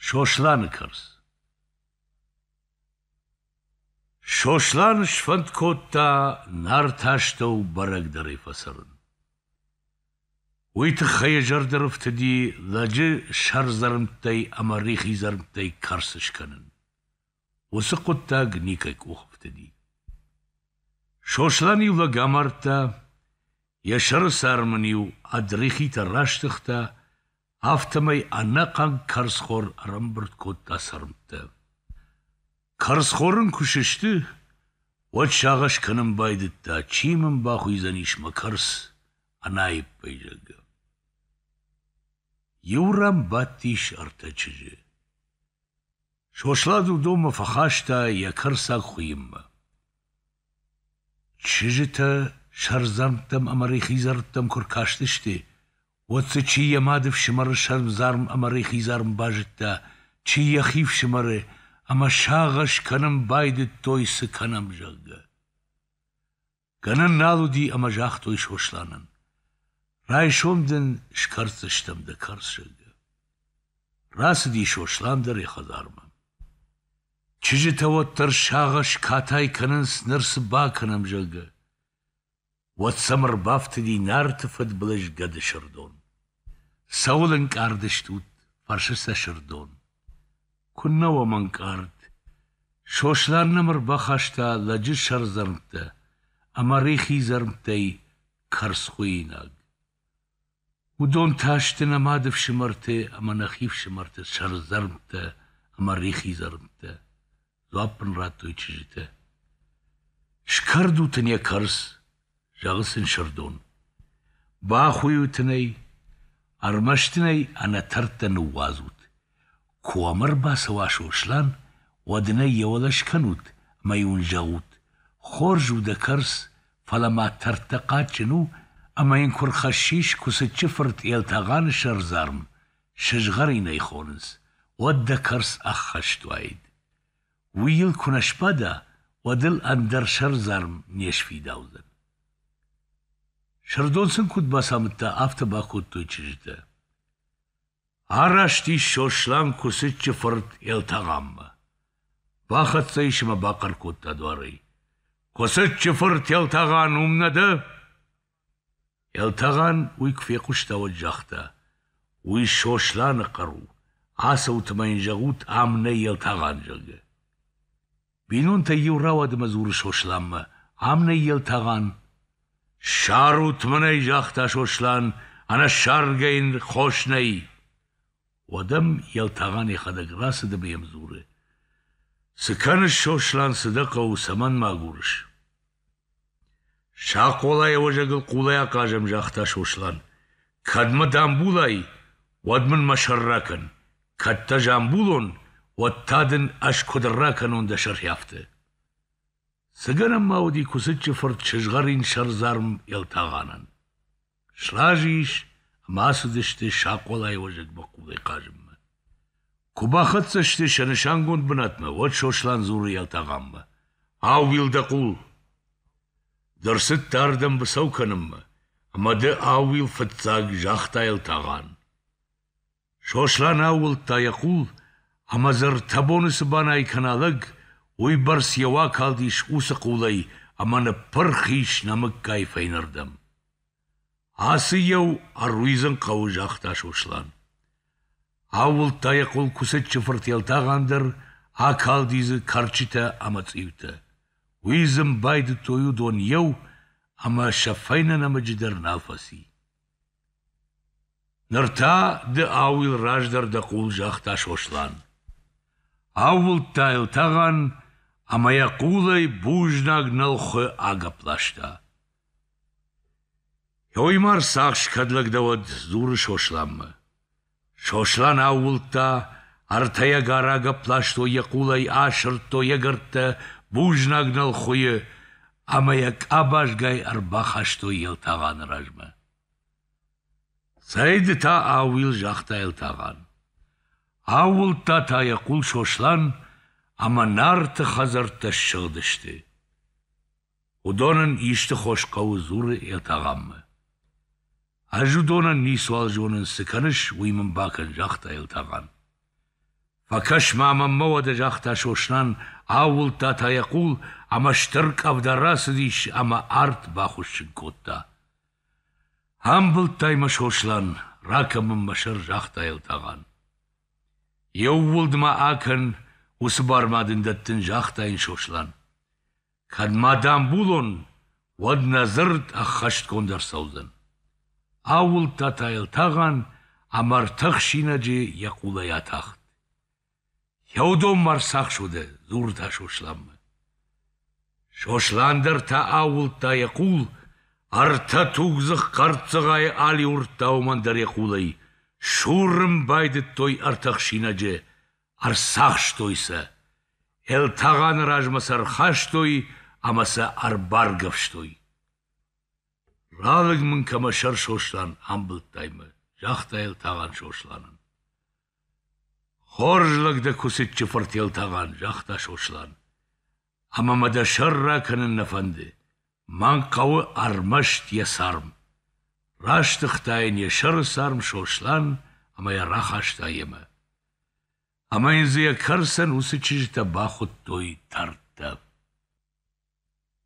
Сосланы кӕрц Сослан сфӕнд кодта Нарты астӕу бӕрӕгдӕрӕй фӕцӕрын. Уый тыххӕй йӕ зӕрдӕ рыфтыди лӕджы сӕрдзӕрмттӕй ӕмӕ рихидзӕрмттӕй кӕрц скӕнын. Уыцы хъуыддаг никӕй къух ӕфтыди. Сослан иу лӕг амардта, йӕ сӕрысӕр мын-иу ӕд рихитӕ растыгъта, афтӕмӕй ӕнӕхъӕн карзхор ӕрӕмбырд кодта цӕрмттӕ. Карзхор ын куы сысты, уӕд сагъӕс кӕнын байдыдта, чи мын бахуыйдзӕнис мӕ кӕрц ӕнаиппӕй, зӕгъгӕ. Иу ран бадтис ӕртӕ чызджы. Сослан уыдонмӕ фӕхаста йӕ кӕрцаг хуыйынмӕ. Чызджытӕ сӕрдзӕмттӕм ӕмӕ рихидзӕрттӕм куы ркастысты, уӕд дзы чи йӕ мады фсымӕры сӕрмдзарм ӕмӕ рихидзарм базыдта, чи йӕхи фсымӕры, ӕмӕ сагъӕс кӕнын байдыдтой, цы кӕнӕм, зӕгъгӕ. Гӕнӕн нал уыди ӕмӕ загътой Сосланӕн: Райсом дын скӕрддзыстӕм дӕ кӕрцыгы. Рацыди Сослан дӕр йӕ хӕдзармӕ. Чызджытӕ уӕддӕр сагъӕс катай кӕнынц, ныр цы бакӕнӕм, зӕгъгӕ. Уӕд сӕм ӕрбафтыди Нарты фыдбылыз Гӕды Сырдон. Цӕуыл ӕнкъард стут? — фӕрсы сӕ Сырдон. — Куыннӕ уӕм ӕнкъард. Сослан нӕм ӕрбахаста лӕджы сӕрдзӕрмттӕ ӕмӕ рихи дзӕрмттӕй кӕрцхуыйнаг. Уыдон та сты нӕ мады фсымӕрты ӕмӕ нӕхи фсымӕрты сӕрдзӕрмттӕ ӕмӕ рихи дзӕрмттӕ. Дзуапп ын радтой чызджытӕ. Скӕрдут ын йӕ кӕрц, зӕгъы сын Сырдон. Бахуыйут ын ӕй, ӕрмӕст ын ӕй ӕнӕтӕрттӕ ныууадзут. Куы ӕм ӕрбацӕуа Сослан, уӕд ын ӕй йӕ уӕлӕ скӕнут ӕмӕ йын зӕгъут, хорз у дӕ кӕрц, фӕлӕ ма тӕрттӕ хъаджджын у, ӕмӕ йын куы рхӕссис Куыцыччы фырт Елтӕгъаны сӕрдзарм, Сызгъӕрин ӕй хонынц, уӕд дӕ кӕрц ӕххӕст уаид. Уый йыл куы нӕ сбада, уӕд ыл ӕндӕр сӕрдзарм не сфидаудзӕн. Сырдон сын куыд бацамыдта, афтӕ бакодтой чызджытӕ. Араст ис Сослан Куыцыччы фырт Елтӕгъаммӕ. Бахӕццӕ ис ӕмӕ бахъӕр кодта дуарӕй. — Куыцыччы фырт Елтӕгъан уым нӕ дӕ? Елтӕгъӕн уый куы фехъуыста, уӕд загъта: «Уый Сосланы хъӕр у, ацӕут ӕмӕ йын зӕгъут, ам нӕй Елтӕгъӕн, зӕгъгӕ». Бинонтӕй иу рауад ӕмӕ дзуры Сосланмӕ: «Ам нӕй Елтӕгъӕн». «Ссарут мын ӕй», загъта Сослан, «ӕнӕссаргӕ йын хос нӕй». Уӕд ӕм Елтӕгъӕн йӕхӕдӕг рацыд ӕмӕ йӕм дзуры: «Цы кӕныс, Сослан, цы дӕ хъӕуы, цӕмӕн мӕ агурыс?» Сӕ хъолайӕ уӕзӕгыл хъулӕй ахъазӕм, загъта Сослан. Кӕд мӕ дӕ амбулай, уӕд мын мӕ сӕр ракӕн, кӕд дӕ ӕз амбулон, уӕд та дын ӕз куыд ракӕнон дӕ сӕргьӕвтӕ. Цы гӕнӕн ма уыди куыцыччы фырт сызгъӕрин сӕрдзарм Елтагъанӕн? Сразы ис ӕмӕ ацыдысты Сакъолайы уӕзӕгмӕ хъулӕй хъазынмӕ. Куы бахӕццӕ сты сӕ нысангонд бынатмӕ, уӕд Сослан дзуры Елтӕгъанмӕ: «Ау, Вилдӕкъул, ды рцыдтӕ ардӕм быцӕу кӕнынмӕ, ӕмӕ ды ау, Вилфыццаг, загъта Елтӕгъан. Сослан аууылдта йӕ хъул, ӕмӕ дзы ртӕбоны цы банӕй кӕна лӕг, уыйбӕрц йӕ уа калдис уыцы хъулӕй ӕмӕ ныппырх ис нӕмыггай фӕйнӕрдӕм. Ацы иу ӕруидзын хъӕуы, загъта Сослан. Аууылдта йӕ хъул куыцыччы фыртӕлтӕгъӕн дӕр, акалди дзы кӕрчытӕ ӕмӕ цъиутӕ. Уый дзы ын байдыдтой уыдон еу, ӕмӕ сӕ фӕйнӕ нӕмыджы дӕр нал фӕци. Ныр та ды ауыл раздӕр дӕ хъул, загъта Сослан. Аууылдта йыл тӕгӕн ӕмӕ йӕ хъулӕй бузнаг нӕлхуы агӕпп ласта. — Йоймар, цахс кӕд лӕг дӕ уӕд, — дзуры Сосланмӕ. Сослан аууылдта, артӕйӕгар агӕпп ластой йӕ хъулӕй, асырдтой ӕгӕрттӕ бузнаг нӕлхуыйы ӕмӕ йӕ къабазгай ӕрбахастой Елтӕгъаны размӕ. Цӕй ды та ауил, загъта Елтӕгъан. Аууылдта та йӕ хъул Сослан ӕмӕ Нарты хӕдзӕрттӕ ссыгъдысты. Уыдон ын исты хос хъӕуы, дзуры Елтӕгъанмӕ. Ӕз уыдонӕн ницуал зонын, цы кӕныс, уый мын бакӕн, загъта Елтӕгъан. Фӕкӕс-ма мӕнмӕ уӕдӕ, загъта Сослан, аууылдта та йӕ хъул, ӕмӕ стыр къӕвда рацыдис ӕмӕ арт бахуыссын кодта. Амбылдтай мӕ, Сослан, ракӕн мын мӕ сӕр, загъта Елтӕгъан. Иууылд ма акӕн, уыцы бар ма дын дӕттын, загъта йын Сослан. Кӕд ма дӕм булон, уӕд нӕ дзырд ӕххӕстгонд ӕрцӕудзӕн. Аууылдта та йыл тӕгъӕн ӕмӕ ртӕхсинаджы йӕ къулӕй атахт. Еудонмӕ ӕрцахсуыдӕ, дзурыдта Сосланмӕ. Сослан дӕр та аууылдта йӕ къул, ӕртӕ тугдзых хъӕрццыгъайы алиуырдта уымӕн дӕр йӕ къулӕй, сурын байдыдтой ӕртӕхсинаджы Ӕрцахстой сӕ, Елтӕгъӕны размӕ сӕ ӕрхастой ӕмӕ сӕ ӕрбаргӕвстой. Ралыг мын кӕмӕ сӕр Сослан амбылдтай мӕ, загъта Елтӕгъӕн Сосланӕн. Хорз лӕг дӕ Куыцыччы фырт Елтӕгъӕн, загъта Сослан. ӕмӕ мӕ дӕ сӕр ракӕнын нӕ фӕнды. Мӕн хъӕуы ӕрмӕст йӕ царм. Растыгъта йын йӕ сӕры царм Сослан ӕмӕ йӕ рахаста йемӕ. Ӕмӕ йын дзы йӕ кӕрцӕн уыцы чызджытӕ бахуыдтой дӕрдтӕ.